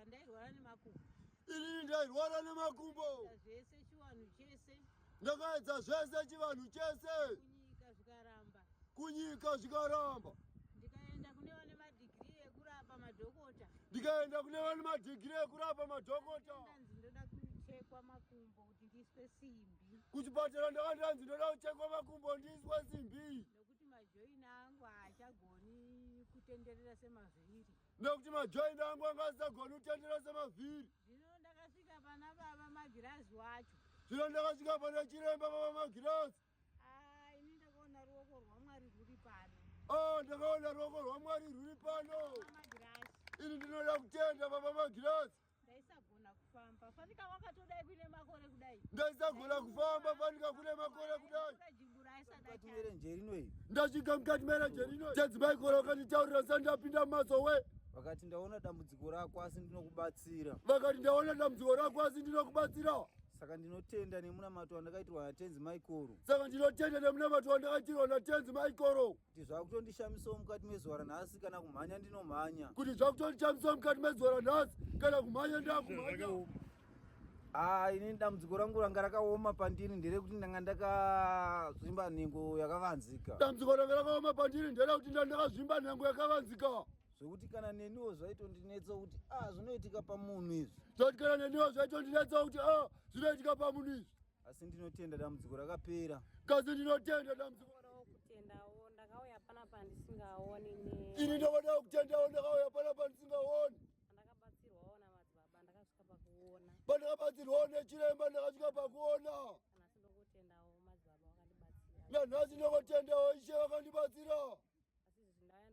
Ndairwara nemakumbo. Inini ndairwara nemakumbo. Zvese chivanhu chese. Ndakaedza zvese chivanhu chese. Kunyika zvikaramba. Kunyika zvikaramba. Ndikaenda kune vane madigiri ekurapa madhokota. Ndikaenda kune vane madigiri ekurapa madhokota. Ndanzi ndoda kuchekwa makumbo kuti ndiiswe simbi. Kuchipatara ndakandanzi ndoda kuchekwa makumbo ndiiswe simbi. Nekuti majoini angu haachagoni kutenderera semazviri. nekuti majoint angu anga asisagoni kutendera semavhiri zvino ndakasvika pana baba magirazi wacho zvino ndakasvika pana chiremba baba magirazi ah, ini ndakaona ruoko rwamwari rwuri pano ah, ndakaona ruoko rwamwari rwuri pano ini ndinoda kutenda baba magirazi Ndaisagona kufamba fanika wakatodai kuine makore kudai. Ndaisagona kufamba fanika kune makore kudai. Mukati merenje rino iyi. Ndasvika mukati merenje rino iyi. Chadzimai kora wakanditaurira sani ndapinda maso we. Vakati ndaona dambudziko rako asi ndinokubatsira. Vakati ndaona dambudziko rako asi ndinokubatsira. Saka ndinotenda nemunamato wandakaitirwa naTenzi Maikoro. Saka ndinotenda nemunamato wandakaitirwa naTenzi Maikoro. kuti zvakutondishamisawo mukati mezuva ranhasi kana kumhanya ndinomhanya kuti zvakutondishamisawo mukati mezuva ranhasi kana kumhanya ndakumhanya haa ini dambudziko rangu ranga rakaoma pandiri nderekuti ndanga ndakazvimba nhengo yakavanzika dambudziko ranga rakaoma pandiri nderekuti ndanga ndakazvimba nhengo yakavanzika zvokuti kana neniwo zvaitondinetsa kuti a ah, zvinoitika pamunhu izvi zvokuti kana neniwo zvaitondinetsa kuti a ah, zvinoitika pamunhu izvi asi ndinotenda dambudziko rakapera kazi ndinotenda dambudziko kutendawo ndakauya pana pandisingaoni ne ini ndakadawo kutendawo ndakauya pana pandisingaoni ndakabatsirwawo namadzibaba ndakasvika pakuona pandakabatsirwawo nechiremba ndakasvika pakuona nanhasi ndokutendawo madzibaba vakandibatsira nanhasi ndokutendawo ishe vakandibatsira asi izvi ndaya